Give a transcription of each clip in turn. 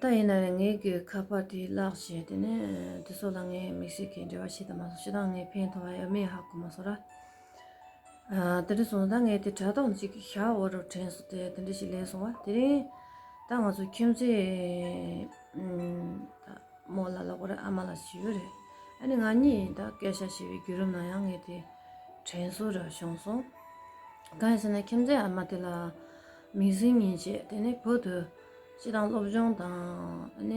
ད་ཡིན་ན་ནི་ངའི་གི་ཁ་པར་དེ་བརླགས་ཞེས་དེ་ནས་དེ་སོགས་ལ་ངས་མིག་ཤེས་ཀྱིས་འབྲེལ་བ་བྱས་ད་མ་སོང་ཞེ་སྡང་ངའི་ཕན་ཐོག་ཡ་མེད་ཧ་གོ་མ་སོང་ར། དེ་འདྲ་སོང་ད་ངས་དེ་དྲ་ཐོག་ཅིག་གི་ཤ་བོ་རུ་དྲན་སོང་དེ་དེ་འདྲ་ཞིག་ལས་སོང་བ་དེ་རིང་ད་ང་ཚོ་ཁྱིམ་མཚེས་ད་མོ་ལ་ལ་གོ་རེ་ཨ་མ་ལ་བྱིས་པ་རེ་ཨ་ནི་ང་གཉིས་ད་སྐད་ཤ་བྱས་པའི་བརྒྱུད་རིམ་ན་ཡང་ངས་དེ་དྲན་སོང་ར་བྱུང་སོང་གང་ཡིན་ཟེར་ན་ཁྱིམ་མཚེས་ཨ་མ་དེ་ལ། མིག་ཟིང་ངེས་བྱེད་དེ་ནི་བོད་དུ་སྤྱི་དང་སློབ་སྦྱོང་དང་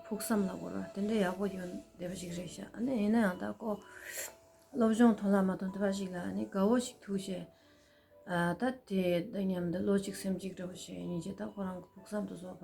ཕུགས་བསམ་ལ་གོ་ར་དེ་འདྲའི་ཡག་པོ་ཡོད་བསྡད་པ་ཞིག་རེད་ཤག་ཡིན་ན་ཡང་ད་ཀོ་སློབ་སྦྱོང་ཐོན་ལ་མ་ཐོན་དེ་འདྲ་ཞིག་ལ་དགའ་བོ་ཞིག་ཐུག་བྱས་ད་དེ་འདི་སྙམ་དུ་བློ་གཅིག་སེམས་གཅིག་འདྲ་བོ་ཞིག་ཡིན་བྱས་ད་ཁོ་རང་གི་ཕུགས་བསམ་དུ་བཟོ་བ་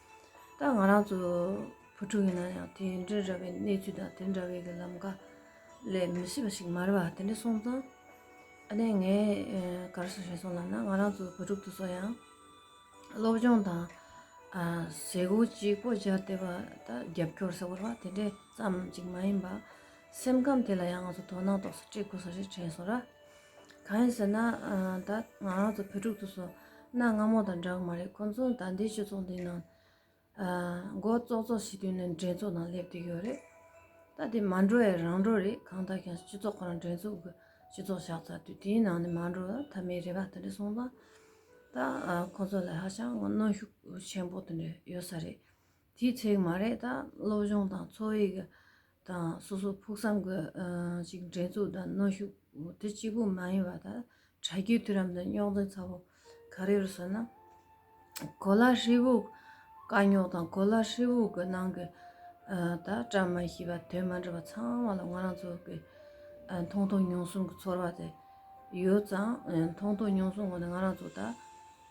ད་ང་རང་ཚོ་བུ་ཕྲུག་ཡིན་ན་ཡང་དེ་འདྲ་ར་བའི་གནས་ཚུལ་དང་དེ་འདྲ་བའི་གི་ལམ་ཀ་ལས་མི་ཤེས་པ་ཞིག་མ་རེད་པ་དེ་འདྲ་སོང་ཙང་ཨ་ནེ་ངས་ག་རེ་སོ་བྱས་སོང་ལབ་ན་ང་རང་ཚོ་བུ་ཕྲུག་ཏུ་སོ་ཡང་སློབ་སྦྱོང་དང་ཟས་གོ་ཅི་གོ་བྱ་བདེ་བ་ད་རྒྱབ་སྐྱོར་ཟེར་བ་རེད་པ་དེ་འདྲས་ཙམ་ཅིག་མ་ཡིན་པ་སེམས་ཁམས་དེ་ལ་ཡང་ང་ཚོ་དོ་སྣང་ཏོག་ཙམ་སྤྲད་དགོས་ས་ཞིག་དྲན་སོང་ར། གང་ཡིན་ཟེར་ན་ད་ང་རང་ཚོ་བོད་ཕྲུག་ཚོ་སོ་ན་སྔ་མོ་དང་འདྲ་གི་མ་རེད་ཁོང་ཚོ་ད་ལྟའི་སྤྱི་ཚོགས་འདིའི་ནང་མགོ་བཙོག་བཙོག་བྱེད་དུས་ནས་འགྲན་ཚོགས་ནང་སླེབས་དུས་ཡོད་རེད་ད་དེ་མ་འགྲོ་ཡ་རང་འགྲོ་རེད་གང་ལྟར་ཀྱང་སྤྱི་ཚོགས་ཁོ་རང་འགྲན་ཚོགས་ཀྱི་སྤྱི་ཚོགས་བཞག་ཚར་དུས་དེའི་ནང་ནས་མ་འགྲོ་ན་ད་མི་རེ་འགའ་དེ་འདྲ་སོང་ཙང་ད་ཁོང་ཚོ་ལ་ཧ་ཅང་གནོན་ཤུགས་ཆེན་པོ་དེ་འདྲ་ཡོད་ས་རེད་དེའི་ཚེག་མ་རེད་ད་སློབ་སྦྱོང་དང་འཚོ་བའི་གི་དང་སོ་སོ་ཕུགས་བསམ་གི་ཅིག་འགྲན་ཚུགས་དང་གནོན་ཤུགས་དེ་གཅིག་པུ་མ་ཡིན་པ་ད་དྲ་རྒྱའི་དུས་རམ་དུ་རྙོག་འཛིང་ཚ་བོ་ག་རེ་རུ་སོང་ན་གོ་ལ་ཧྲིལ་བོ་དཀའ་རྙོག་དང་གོ་ལ་ཧྲིལ་བོ་གི་ནང་གི་ད་བཀྲ་མི་ཤིས་པ་དོན་མ་འགྲུབ་པ་ཚང་མ་ལ་ང་རང་ཚོ་གི་མཐོང་མཐོང་མྱོང་གསུམ་གི་ཚོར་བ་དེ་ཡོད་ཙང་མཐོང་མཐོང་མྱོང་གསུམ་ངོ་ནས་ང་རང་ཚོ་ད་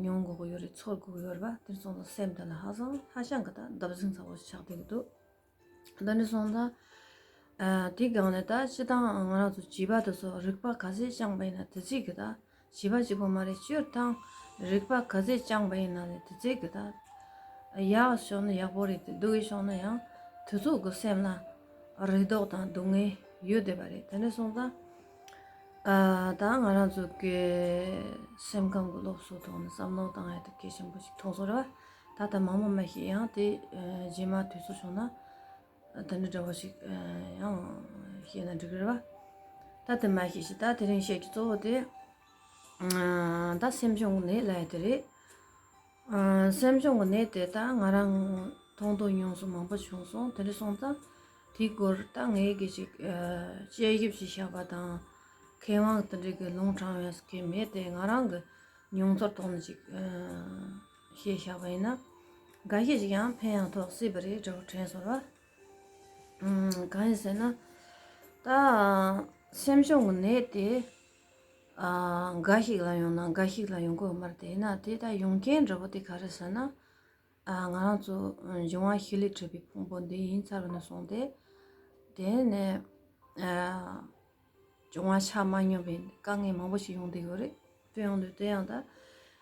མྱོང་འགོག་ཡོད་རེད་ཚོར་འགོག་ཡོད་རེད་པ་དེར་སོང་ཙང་སེམས་དེ་ལ་ཧ་སང་ཧ་ཤང་གི་ད་འདབ་གཟིགས་མཚར་བོ་ཞིག་ཆགས་བསྡད་ཀྱི་འདུག་ད་ནས་སོང་ཙང་དེའི་སྒང་ནས་ད་ཕྱི་ཐང་ང་རང་ཚོ་བྱིས་པ་དེ་ཚོ་རིག་པ་ག་ཚད་བཅངས་པ་ཡིན་ན་དེ་ཚིག་གི་ད་བྱིས་པ་གཅིག་པོ་མ་རེད་སྤྱིར་བཏང་རིག་པ་ག་ཚད་བཅངས་པ་ཡིན་ན་ལས་དེ་ཚིག་གི་ད་ཡག་ཕྱོགས་ནི་ཡག་པོ་རེད་དེ་སྡུག་གི་ཕྱོགས་ནི་ཡང་དེ་ཚོ་གི་སེམས་ལ་རེ་དོགས་དང་སྡུག་བསྔལ་ཡོད་བསྡད་པ་རེད་ད་ནས་སོང་ཙང་ད་ང་རང་ཚོ་གི་སེམས་ཁམས་ཀྱི་སློབ་གསོའི་ཐོག་ནས་བསམ་བློ་བཏང་ཡག་ཐུབ་མཁན་ཆེན་པོ་ཞིག་ཐོག་སོ་རེད་བ། ད་ལྟ་མང་མོ་མ་ཤེས་ཡང་དེ་རྗེས་མ་དུས་ཚོད་བྱུང་ན་དེ་འདྲ་འདྲ་བོ་ཞིག་ཡང་ཤེས་ན་འགྲིག་གི་རེད་བ། ད་དེ་མ་ཤེས་ཤིག་ད་དེ་རིང་བཤད་རྒྱུ་གཙོ་བོ་དེ་ད་སེམས་ཆུང་ནས་ལས་དེ་རེད། སེམས་སྦྱོང་གི་གནད་དེ་དག་ང་རང་མཐོང་ཐོས་མྱོང་སོང་མང་པོ་བྱུང་སོང་དེ་འདྲ་སོང་ཙང་དེའི་སྐོར་ད་ངས་གལ་ཆེ་དཔྱད་ཞིབ་ཅིག་བྱ་བ་དང་མཁས་དབང་དེ་འདྲའི་ལུང་དྲངས་ཡོད་མཁན་མེད་དེ་ང་རང་གི་མྱོང་ཚོར་ཐོག་ནས་ཅིག་བཤད་བྱ་བ་ཡིན་ན། འགའ་ཤས་ཅིག་ཡང་ཕན་ཡང་ཐོགས་སྲིད་པ་རེད་དྲ་བ་དྲན་སོང་བ། གང་ཡིན་ཟེར་ན། ད་སེམས་སྦྱོང་གི་གནད་དེ། འགའ་ཞིག་ལ་ཡོང་ན་འགའ་ཞིག་ལ་ཡོང་གོ་མ་རེད་དེས་ན་དེ་ལྟར་ཡོང་རྐྱེན་འགྲོ་བ་དེ་ག་རེད་ཟེར་ན། ང་རང་ཚོ་འབྱུང་བ་ཤི་ལས་འཕྲོས་པའི་ཕུང་པོ་འདི་ཡིན་ཚར་ནས་སོང་སྟེ། དེ་ནས་བྱུང་བ་ཆ་མ་སྙོམས་པའི་དཀའ་ངལ་མང་པོ་ཞིག་ཡོང་སྡོད་ཀྱི་རེད་དཔེར་ཡོང་དུས་དེ་ཡང་ད།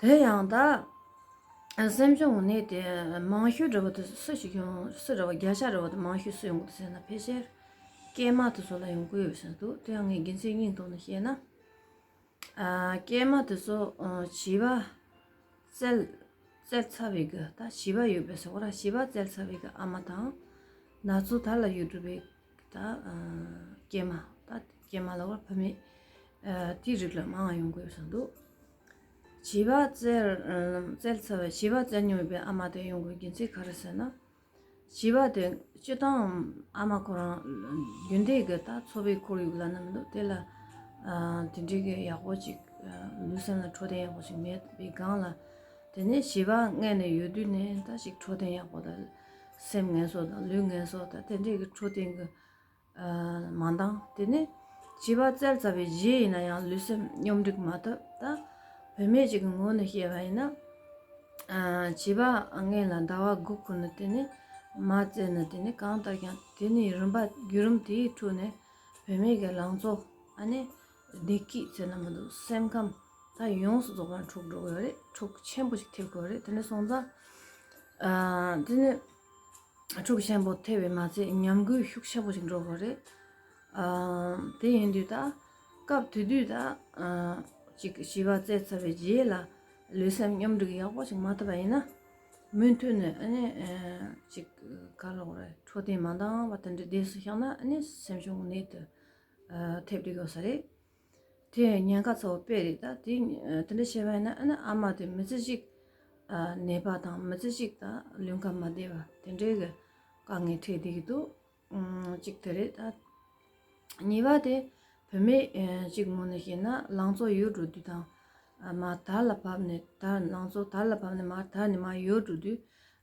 དེ་ཡང་དག། སེམས་བྱུང་གནས་དེ་མང་ཤོས་རེ་བ་དེ་སུ་ཞིག་ཡོང་སུ་རེ་བ་བརྒྱ་ཆ་རེ་བ་དེ་མང་ཤོས་སུ་ཡོང་གི་འདུག་ཟེར་ན་ཕལ་ཆེར། སྐྱེས་མ་དེ་ཚོ་ལ་ཡོང་གི་ཡོད་ཟེར་འདུག་དེ་ཡང་ངའི་དགེ་མཚན་སྙིང་སྟོང་ནས་བཤད་ན། སྐྱེས་མ་དེ་ཚོ་བྱིས་པ་བཙལ་ཚར་བའི་གི་ད་བྱིས་པ་ཡོད་པའི་ས་གོ་ལ་བྱིས་པ་བཙལ་ཚར་བའི་གི་ཨ་མ་དང། ན་ཚོད་ད་ལ་ཡོད་གྲུབ་པའི། ད་སྐྱེས་མ་ད་སྐྱེས་མ་ལ་བར་ཕ་མེས་དེའི་རིགས་ལ་མང་བ་ཡོང་གི་ཡོད་བསམ་འདུག་བྱིས་པ་བཙལ་བཙལ་ཚར་བའི་བྱིས་པ་བཙལ་མྱོང་མེད་པའི་ཨ་མ་དེ་ཡོང་གི་རྒྱུ་མཚན་ག་རེ་ཟེར་ན་བྱིས་པ་དེ་སྤྱི་བཏང་ཨ་མ་ཁོ་རང་རྒྱུན་དེ་གི་ད་འཚོ་བའི་ཁོར་ཡུག་ལ་ན་མི་འདུག་དེ་ལ་དེ་འདྲའི་གི་ཡག་པོ་ཅིག་ལུས་སེམས་ལ་འཕྲོད་བསྟེན་ཡག་པོ་ཞིག་མེད་པའི་སྒང་ལ་དེ་ནས་བྱིས་པ་མངལ་ནས་ཡོད་དུས་ནས་ད་ཞིག་འཕྲོད་བསྟེན་ཡག་པོ་དང་སེམས་ངན་སོགས་དང་ལུས་ངན་སོགས་དང་དེ་འདྲས་ཀྱི་འཕྲོ་བསྟེན་གྱི་མ་འདང་དེ་ནི་བྱིས་པ་བཙལ་ཚར་བའི་རྗེས་ཡིན་ན་ཡང་ལུས་སེམས་སྙོམས་སྒྲིག་མ་ཐུབ་ད། བུད་མེད་ཅིག་གི་ངོས་ནས་བཤད་པ་ཡིན་ན། བྱིས་པ་རྔན་ལ་ཟླ་བ་དགུ་འཁོར་ནས་དེ་ནི་མ་བཙལ་ན་དེ་ནི་གང་ལྟར་ཀྱང་དེ་ནི་རིམ་པ་བརྒྱུད་རིམ་དེའི་ཁྲོད་ནས་བུད་མེད་ཀྱི་ལང་ཚོ་ཨ་ནི། བདེ་སྐྱིད་བཙལ་ན་མི་འདུག་སེམས་ཁམས་ད་ཡོངས་སུ་རྫོགས་པའི་འཁྲུག་འགྲོ་དགོས་རེད་འཁྲུག་ཆེན་པོ་ཞིག་ཐེབས་དགོས་རེད་དེ་ནས་སོང་ཙང་དེ་ནས་འཁྲུག་ཆེན་པོ་ཐེབས་པས་མ་ཚད་ཉམས་རྒུད་ཤུགས་ཆེན་པོ་ཞིག་འགྲོ་དགོས་རེད་དེ་ཡིན་དུས་ད་སྐབས་དེ་དུས་ད་ཅིག་བྱིས་པ་བཙས་ཚར་བའི་རྗེས་ལ་ལུས་སེམས་སྙོམས་སྒྲིག་ཡག་པོ་ཞིག་མ་ཐུབ་པ་ཡིན་ན་མུ་མཐུད་ནས་ཨཱ་ཅིག་ག་ལོག་རེད་འཕྲོད་བསྟེན་མ་འདང་བ་དེ་འདྲའི་སྡེ་སུ་ཤག་ན་ཨཱ་ནི་སེམས་གཞུང་གནད་དུ་ཐེབས་རིགས་ཡོད་ས་རེད། དེ་ཡང་ཉེན་ཁ་ཚོ་སྤེལ་རིགས་ད། དེ་འདྲ་བྱས་པ་ཡིན་ན་ཨ་མ་དེ་མི་ཚེ་གཅིག་ནད་པ་དང་མི་ཚེ་གཅིག་ལུས་ཁམས་མ་བདེ་བ་དེ་འདྲའི་གི་དཀའ་ངལ་འཕྲད་བསྡད་ཀྱི་འདུག་གཅིག་དེ་རེད་ད། གཉིས་པ་དེ་བུད་མེད་གཅིག་ངོ་ནས་བཤད་ན་ལང་ཚོ་ཡོད་འགྲོ་དུས་དང་མ་དར་ལ་བབས་ནས་དར་ལང་ཚོ་དར་ལ་བབས་ནས་མ་དར་ནས་མ་ཡོད་འགྲོ་དུས་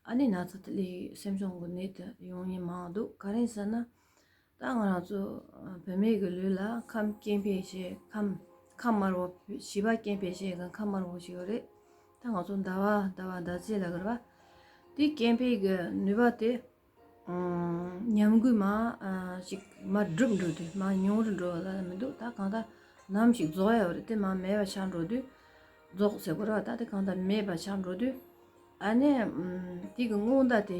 ཨ་ནེ་ན་ཚ་ལས་སེམས་གཅོང་གི་ནད་དེ་ཡོང་ཉེན་མང་འདུག་ག་རེ་ཟེར་ན། ད་ང་རང་ཚོ་བོད་མི་གི་ལུས་ལ་ཁམས་སྐྱེ་འཕེལ་ཞེས་ཁམས་ཁམས་དམར་བོ་བྱིས་པ་སྐྱེ་འཕེལ་ཞེས་ཁམས་དམར་བོ་ཞིག་ཡོད་རེད་ད་ང་ཚོ་ཟླ་བ་ཟླ་བ་ཟླ་ཚེས་ལ་གི་རེད་པ་དེ་སྐྱེ་འཕེལ་གི་ནུས་པ་དེ་ཉམས་རྒུད་མ་ཞིག་མ་བསྒྲུབས་འགྲོ་དུས་མ་མྱོང་རུ་འགྲོ་ལ་མི་འདུག་ད་གང་ལྟར་ནམ་ཞིག་རྫོགས་ཡ་བ་རེད་དེ་མ་མེད་པ་ཆགས་འགྲོ་དུས་རྫོགས་ཟེར་དགོས་རེད་པ་ད་དེ་གང་ལྟར་མེད་པ་ཆགས་འགྲོ་དུས་ཨ་ནེ་དེ་གི་སྔོན་བརྡ་དེ་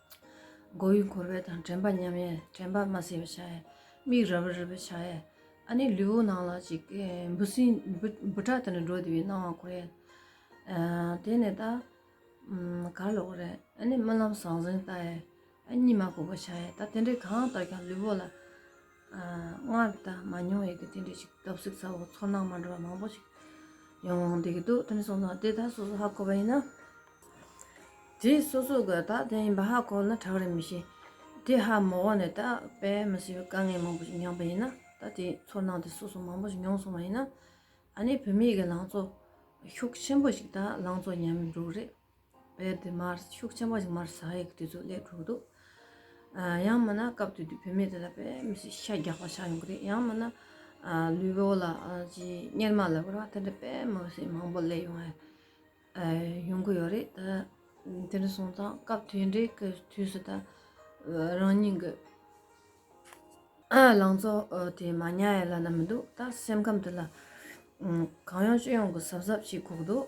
སྒོ་དབྱུག་འཁོར་བས་དང་དྲན་པ་ཉམས་ཡས་དྲན་པ་མ་སེལ་བའི་ཆ་ཡས། མིག་ར་བར་རིད་པའི་ཆ་ཡས། ཨ་ནི་ལུས་བོ་ནང་ལ་ཅིག། འབུ་སྲིན་འབུ་ཕྲག་དེ་ནི་འགྲོ་བདེ་བའི་སྣང་བ་འཁོར་ཡས། དེ་ནས་ད། གར་ལོག་རེད་ཨ་ནི་རྨི་ལམ་ཟང་ཟིང་ལྟ་ཡས། ཨ་གཉིད་མ་ཁུག་པའི་ཆ་ཡས་ད་དེ་འདྲས་གང་ལྟར་ཀྱང་ལུས་བོ་ལ། སྔར་ད་མ་མྱོང་བའི་དེ་འདྲའི་ཞིག་སྟོབས་ཤུགས་ཚ་བོ་ཚོར་སྣང་མ་འདྲ་བ་མང་པོ་ཞིག་ཡོང་བསྡད་ཀྱི་འདུག་དོན་གསུངས་ན་དེ་དག་སོ་སོ་ཧ་གོ་བ་ཡིན་ན། དེ་སོ་སོ་ག་ད་དེ་ཡིན་པ་ཧ་གོ་ན་གྲགས་རིན་མི་ཤེས། དེ་ཧ་མོ་བ་ནས་ད་དཔེ་མི་སྲིད་པའི་དཀའ་ངལ་མང་པོ་ཞིག་མྱངས་པ་ཡིན་ན་ད་དེ་ཚོར་སྣང་དེ་སོ་སོ་མང་པོ་ཞིག་མྱོང་སོང་བ་ཡིན་ན། ཨ་ནི་བོད་མིའི་གི་ལང་ཚོ་ཤུགས་ཆེན་པོ་ཞིག་ད་ལང་ཚོ་ཉམས་འགྲོ་གི་རེད། དཔེར་དེ་མར་ཤུགས་ཆེན་པོ་ཞིག་མར་ཟ་ཡི་གི་དུས་ཚོད་སླེབས་གྲུབ་འདུག་ཡང་མིན་ན་སྐབས་དེ་དུས་བུད་མེད་དེ་ལ་དཔེ་མི་སྲིད་ཤ་རྒྱག་པ་ཆགས་ཡོང་གི་རེད་ཡང་མིན་ན་ལུས་པོ་ལ་ཅི་གཉེར་མ་ལབ་པར་བ་དེ་འདྲ་དཔེ་མི་སྲིད་མང་པོ་སླེབས་ཡོང་ཡས་ཡོང་གི་ཡོད་རེད་ད་དེ་འདྲ་སོང་ཙང་སྐབས་དེ་འདྲའི་གི་དུས་སུ་ད་རང་ཉིད་ཀྱི་ལང་ཚོ་དེ་མ་ཉལ་ཡས་ལ་ན་མི་འདུག་ད་སེམས་ཁམས་དེ་ལ་གང་ཡོང་ཅི་ཡོང་གི་གཟབ་གཟབ་བྱེད་ཁུག་འདུག།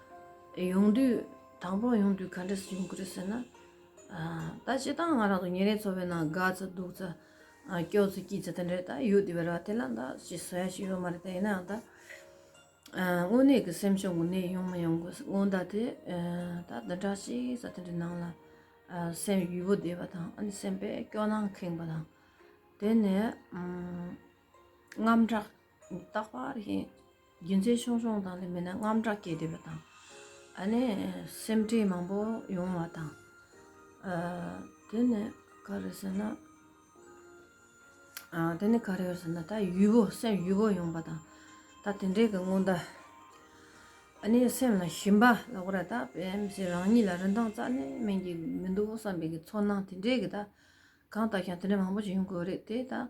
ཡོང་དུས་དང་པོར་ཡོང་དུས་ག་འདྲ་ཞིག་ཡོང་གི་རེད་ཟེར་ན། ད་བྱས་ཙང་ང་རང་ཚོ་ཉིན་རེའི་འཚོ་བའི་ནང་དགའ་ཚེ་སྡུག་ཚེ་སྐྱོ་ཚེ་སྐྱིད་ཚེ་དེ་འདྲ་ད་ཡོད་དེ་བས་ར་དེ་ལ་ད་ཅི་ཟེར་ཡ་ཞིག་ཡོད་མ་རེད་ད་ཡིན་ནའང་ད། དངོས་གནས་ཀྱི་སེམས་ཕྱོགས་ཀྱི་ནད་ཡོང་མ་ཡོང་གི་སྔོན་བརྡ་དེ་ད་འདི་འདྲ་ཞིག་ས་དེ་འདྲའི་ནང་ལ་སེམས་ཡུལ་པོ་བདེ་བ་དང་ཨ་ནི་སེམས་པས་སྐྱོ་སྣང་ཁེངས་པ་དང་དེ་ནས་དངངས་སྐྲག་རྟག་པར་ཞེན། རྒྱུ་མཚན་ཆུང་ཆུང་དང་ལས་མེད་ན་རྔམ་སྐྲག་སྐྱེ་བསྡད་པ་དང། ཨ་ནི་སེམས་ཁྲལ་མང་པོ་ཡོང་བ་དང། དེ་ནི་ག་རེ་ཟེར་ན། དེ་ནི་ག་རེ་ཡོད་ཟེར་ན་ད་ཡུས་པོ་སེམས་ཡུས་པོ་ཡོང་པ་དང། ད་དེ་འདྲའི་གི་སྔོན་བརྡ། ཨ་ནི་སེམས་ལ་ཞིམ་པ་ལ་ཁོ་ར་ད་བེམ་སེ་རང་ཉིད་ལ་རིན་ཐང་རྩ་ནས་སྨིན་གྱི་མི་འདུག་བསམ་པའི་གི་ཚོར་སྣང་དེ་འདྲའི་གི་ད་གང་ལྟར་ཞིང་དེ་འདྲའི་མང་པོ་ཞིག་ཡོང་གི་རེད་དེ་ད།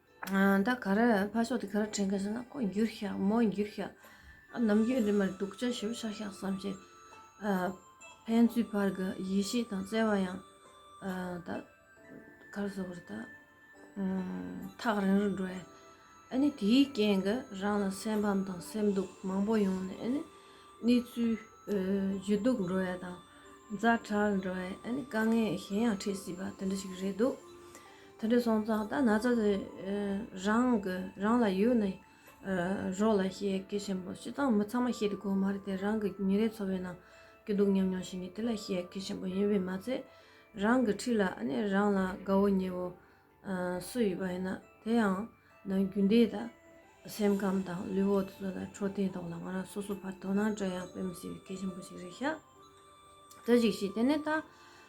ད་ག་རེ་ཕར་ཕྱོགས་དེ་ག་རེ་དྲན་གི་སོང་ན་ཁོ་འགྱུར་ཤག་མོ་འགྱུར་ཤག་ནམ་རྒྱུན་འདི་མར་སྡུག་ཅག་ཞིབ་ཤག་ཤག་བསམ་བྱས། ཕན་ཚུན་བར་གྱི་ཡིད་ཆེས་དང་བརྩེ་བ་ཡང་ད་ག་རེ་ཟོ་བར་ད་ཐག་རིང་རིང་འགྲོ་ཡ། ཨ་ནི་དེའི་རྐྱེན་གྱི་རང་ལ་སེམས་ཕམ་དང་སེམས་སྡུག་མང་པོ་ཡོང་ནས་ཨ་ནི་གནས་ཚུལ་ཇུས་གཏུག་འགྲོ་ཡ་དང་མཛའ་གྲགས་འགྲོ་ཡ་ཨ་ནི་དཀའ་ངལ་གཞན་ཡང་འཕྲད་སྲིད་པ་དེ་འདྲ་ཞིག་རེད་འདུག། དེ་འདྲའི་སོང་ཙང་ད་ན་ཚ་དེ་རང་གི་རང་ལ་ཡོད་ནི་རོགས་ལ་བཤད་སྐད་ཆེན་པོ་བྱེད་སྟངས་མི་ཚང་མ་བཤད་དེ་གོ་མ་རེད་དེ་རང་གི་ཉིན་རེའི་འཚོ་བའི་ནང་གི་སྡུག་མྱོང་མྱོང་བཞིན་གྱི་དེ་ལ་བཤད་སྐད་ཆེན་པོ་ཡིན་པས་མ་ཚད་རང་གི་འཁྲིས་ལ་ཨ་ནེ་རང་ལ་དགའ་བོ་ཉེ་བོ་སུ་ཡོད་པ་ཡིན་ན་དེ་ཡང་ན་རྒྱུན་ལྡན་དང་སེམས་ཁམས་དང་ལུས་འོག་ཏུ་ལ་འཕྲོད་བསྟེན་ཐོག་ལ་ང་རང་སོ་སོ་བར་དོ་སྣང་དྲན་ཡང་དཔེ་མི་སྲིད་པའི་སྐད་ཆེན་པོ་ཞིག་རེད་ཤག་དེ་ཅིག་བྱས་དེ་ནས་ད་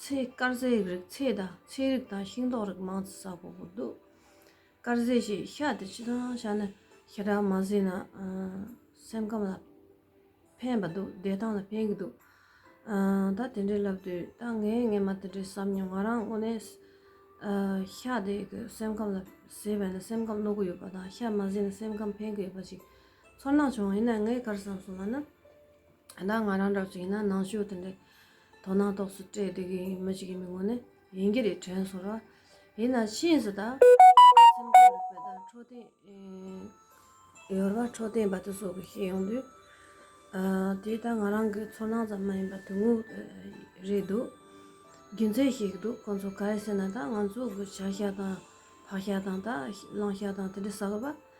ཚེ་དཀར་ཟས་ཡིག་རིགས་ཚེ་དང་ཚེ་རིགས་དང་ཤིང་ཏོག་རིགས་མང་ཙི་ཟ་གོ་གོ་འདུག་དཀར་ཟས་ཞེས་བཤད་དེ་ཅི་དང་བྱ་ནི་ཞེ་དྲག་མ་ཟོས་ན་སེམས་ཁམས་ལ་ཕན་པ་འདུག་བདེ་ཐང་ལ་ཕན་གི་འདུག་ད་དེ་འདྲའི་ལབ་དུས་ད་ངས་ངས་མ་དེ་འདྲའི་བསམ་མྱོང་ང་རང་དངོས་ནས་ཤ་དེ་གི་སེམས་ཁམས་ལ་ཟས་བས་ན་སེམས་ཁམས་བློ་གོ་ཡོད་པ་དང་ཤ་མ་ཟས་ན་སེམས་ཁམས་ཕན་གི་ཡོད་པ་ཞིག་ཚོར་སྣང་བྱུང་ཡིན་ན་ངས་གར་བསམ་སོང་བ་ན་ད་ང་རང་འདྲ་བ་ཞིག་ཡིན་ན་ནང་ཆོས་དེ་འདྲའི་དོ་སྣང་རྟོགས་སུ་སྤྲད་བསྡད་ཀྱི་མི་ཞིག་ཡིན་པའི་ངོས་ནས་ཡིན་གྱི་རེད་དྲན་སོང་ར་ཡིན་ན་ཕྱིས་སུ་ད་སེམས་ཁམས་རིག་པའི་བརྡ་འཕྲོ་དེ་ཡོལ་བ་འཕྲོ་བསྟེན་པ་དེ་སོགས་ཀྱི་ཤེས་ཡོང་དུས་དེ་ད་ང་རང་གི་ཚོར་སྣང་ཙམ་མ་ཡིན་པར་དོན་དངོས་རེད་འདུག་རྒྱུ་མཚན་ཞིག་འདུག་ཁོང་ཚོ་ག་རེ་ཟེར་ན་ད་ང་ཚོ་གི་བྱ་བཞག་དང་བག་ཞག་དང་ད་བླངས་ཞག་དང་དེ་འདྲའི་ཟ་གི་པ་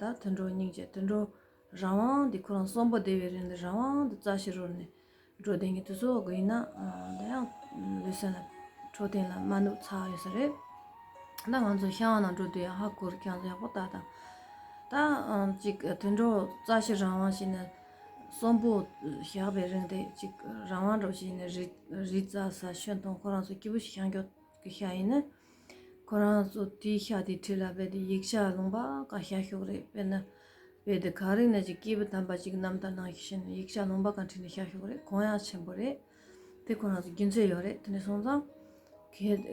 ད་དུད་འགྲོ་སྙིང་རྗེ་དུད་འགྲོ། རང་དབང་འདི་ཁོ་རང་གསོན་པོ་བདེ་བའི་རིང་ལ་རང་དབང་དུ་རྩྭ་ཕྱི་རོལ་ནས་འགྲོ་བདེན་གྱི་དུས་ཚོད་དགོས་ཡིན་ན་ད་ཡང་ལུས་སེམས་ལ་འཕྲོད་བསྟེན་ལ་དམའ་ནུབ་ཚ་ཡོད་ས་རེད། ད་ང་ཚོ་ཤང་ནང་འགྲོ་དུས་ཡང་ཧ་གོ་རུ་ཁྱང་ཚོ་ཡག་པོ་བལྟ་དང། ད་ཅིག་དུད་འགྲོ་རྩྭ་ཕྱི་རང་དབང་བྱས་ནས་གསོན་པོ་བཞག་པའི་རིང་དེ་ཅིག་རང་དབང་འགྲོ་བྱས་ནས་རི་རྩྭ་ས་ཤུན་སྟོང་ཁོ་རང་ཚོ་སྐྱིད་པོ་ཞིག་ཤང་འགྱོགས་ཀྱི་ཤ་ཡིན་ནི། ཁོ་རང་ཚོ་དེའི་ཤག་དེའི་ཁྲི་ལ་བས་ཏེ་ཡིག་ཆ་ལུང་པ་ག་ཤ་ཤོག་རེད་བས་ན། བས་ཏེ་གངས་རི་ནས་ཀྱི་སྐྱེས་བུ་དམ་པ་ཅིག་ནམ་ཟླ་ནང་ཞིག་ཤི་ནས་ཡིག་ཆ་ལུང་པ་ག་ཁྲི་ནས་ཤ་ཤོག་རེད་གོང་ཡ་ཆེན་པོ་རེད། དེ་ཁོ་རང་ཚོ་རྒྱུན་ཚད་ཡོད་རེད་དེ་ནས་སོང་ཙང།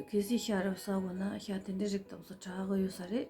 གལ་སྲིད་ཤ་རབ་ཟ་དགོས་ན་ཤ་དེ་འདྲའི་རིགས་དག་ཚོ་གྲགས་ཡོད་ས་རེད།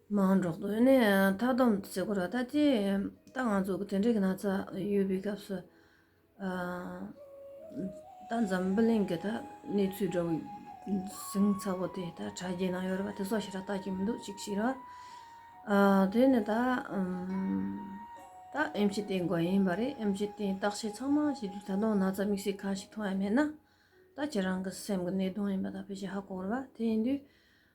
མང་གྲགས་དོད་ནས་མཐའ་བསྡོམས་བརྩི་བཀུར་བ་ལྟ་ཅི། ད་ང་ཚོ་གི་དེ་འདྲའི་གི་ན་ཚ་ཡོད་པའི་སྐབས་སུ། ད་འཛམ་བུ་གླིང་གི་ད་གནས་ཚུལ་འདྲ་བོ་ཟིང་ཚ་བོ་དེ་ད་དྲ་རྒྱའི་ནང་ཡོད་རེད་པ་དེ་སོགས་ཞིག་ད་ལྟ་ཀྱི་མི་འདུག་ཅིག་ཤེས་རོགས། དེ་ནི་ད། ད་ཨེམ་ཆི་ཏེན་དགོས་ཡིན་པ་རེད་ཨེམ་ཆི་ཏེན་བརྟག་དཔྱད་ཚང་མ་བྱས་དུས་ད་དུང་ན་ཚ་དམིགས་བསལ་ག་ཞིག་མཐོང་ཡ་མེད་ན། ད་ཁྱེད་རང་གི་སེམས་ཀྱི་ནད་གདོན་ཡིན་པ་ད་ཕལ་ཆེར་ཧ་གོ་རེད་པ་དེ་ཡིན་དུས།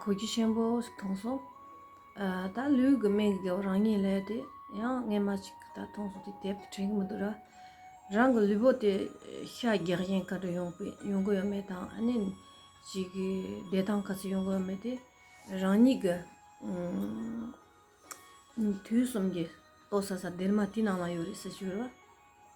གོ་རྒྱུ་ཆེན་པོ་ཞིག་མཐོང་སོང། ད་ལུས་ཀྱི་མིག་གིས་རང་ཉིད་ལས་དེ་ཡང་རྔན་མ་ཞིག་ད་མཐོང་སོང་དེ་དེབ་ཏུ་དྲན་གྱི་མི་འདུག་ར། རང་གི་ལུས་པོ་དེ་ཤ་རྒྱགས་བཞིན་ག་དུས་ཡོང་པའི་ཡོང་གི་ཡོད་མེད་དང་ཨ་ནེ་ཞིག་གི་བདེ་ཐང་ག་ཚོད་ཡོང་གི་ཡོད་མེད་དེ་རང་ཉིད་ཀྱི་དུས་གསུམ་གྱི་ལྟོ་ས་ས་སྡེར་མ་དེའི་ནང་ན་ཡོད་རེད་ཟེར་གྱི་ཡོད་ར།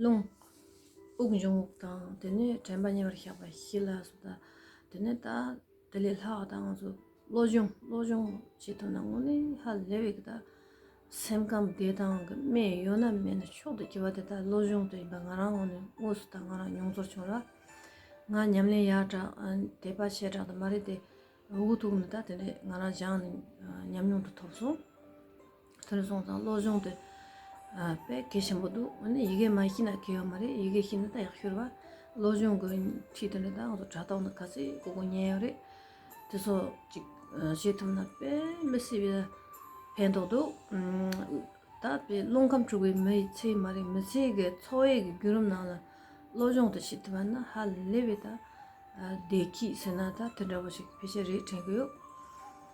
རླུང། དབུགས་འབྱུང་བ་དང་དེ་ནས་དྲན་པ་ཉེ་བར་བཞག་པ་བཞི་ལ་སོ་ད། དེ་ནས་ད་དེ་ལས་ལྷག་ད་ང་ཚོ་བློ་སྦྱོང་བློ་སྦྱོང་བྱེད་ཐུབ་ན་དངོས་གནས་ཧ་ལས་བས་ད། སེམས་ཁམས་བདེ་ཐང་གི་སྨན་ཡོད་ན་མེད་ན་མཆོག་ཏུ་གྱུར་པ་དེ་ད་བློ་སྦྱོང་དུ་ཡིན་པ་ང་རང་ངོ་ནས་དངོས་སུ་ད་ང་རང་མྱོང་ཚོར་བྱུང་ལ། ང་ཉམས་ལེན་ཡག་དྲགས་དད་པ་ཆེ་དྲགས་དུ་མ་རེད་དེ། འུ་གུ་ཐུག་ནས་ད་དེ་འདྲས་ང་རང་སྦྱངས་ནས་ཉམས་མྱོང་དུ་ཐོབ་སོང། ཐོས་བཟང་དང་བློ་སྦྱོང་དེ་དཔེ་གལ་ཆེན་པོ་འདུག་འོན་ནས་ཡི་གེ་མ་ཤེས་ན་གལ་ཡོད་མ་རེད་ཡི་གེ་ཤེས་ན་ད་ཡག་ཤོས་རེད་བ། བློ་སྦྱོང་གི་ཁྲིད་དེ་འདྲ་ད་ང་ཚོ་དྲ་ཐོག་ན་ག་ཚོད་གོ་གོ་ཉན་ཡོད་རེད། དེ་ཚོ་ཅིག་བྱེད་ཐུབ་ན་དཔེ་མི་སྲིད་པའི་ཕན་ཐོགས་འདུག། ད་དཔེ་རླུང་ཁམས་འཁྲུགས་པའི་མི་ཡི་ཚེ་མ་རེད་མི་ཚེ་གི་འཚོ་བའི་གི་བརྒྱུད་རིམ་ནང་ལ་བློ་སྦྱོང་དེ་བྱེད་ཐུབ་པ་ན་ཧ་ལས་པའི་ད་བདེ་སྐྱིད་ཟེར་ན་ད་དེ་འདྲ་བོ་ཞིག་ཕལ་ཆེར་རེད་དྲན་གི་ཡོད།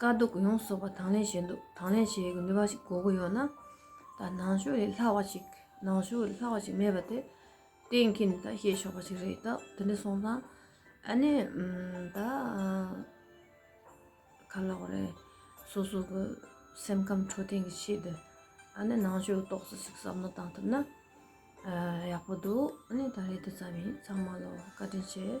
དཀའ་སྡུག་ཡོངས་གསོག་པ་དང་ལེན་བྱེད་འདོད་དང་ལེན་བྱེད་ནུས་པ་ཞིག་དགོས་ཀྱི་ཡོད་ན། ད་ནང་ཆོས་ལས་ལྷག་བ་ཞིག་ནང་ཆོས་ལས་ལྷག་བ་ཞིག་མེད་པ་དེ་གཏན་འཁེལ་ནས་ད་བཤད་ཆོག་པ་ཞིག་རེད་ད་དེ་འདྲ་སོང་ཙང་ཨ་ནི་ད་ག་ལ་བ་རེད་སོ་སོ་གི་སེམས་ཁམས་འཕྲོད་བསྟེན་གྱི་ཆེད་དུ་ཨ་ནི་ནང་ཆོས་རྟོག་བཟོ་ཞིག་བསམ་བློ་བཏང་ཐུབ་ན་ཡག་པོ་འདུག་ཨ་ནི་ད་རེ་འདི་ཙམ་ཡིན་ཚང་མ་ལ་བཀའ་དྲིན་ཆེ།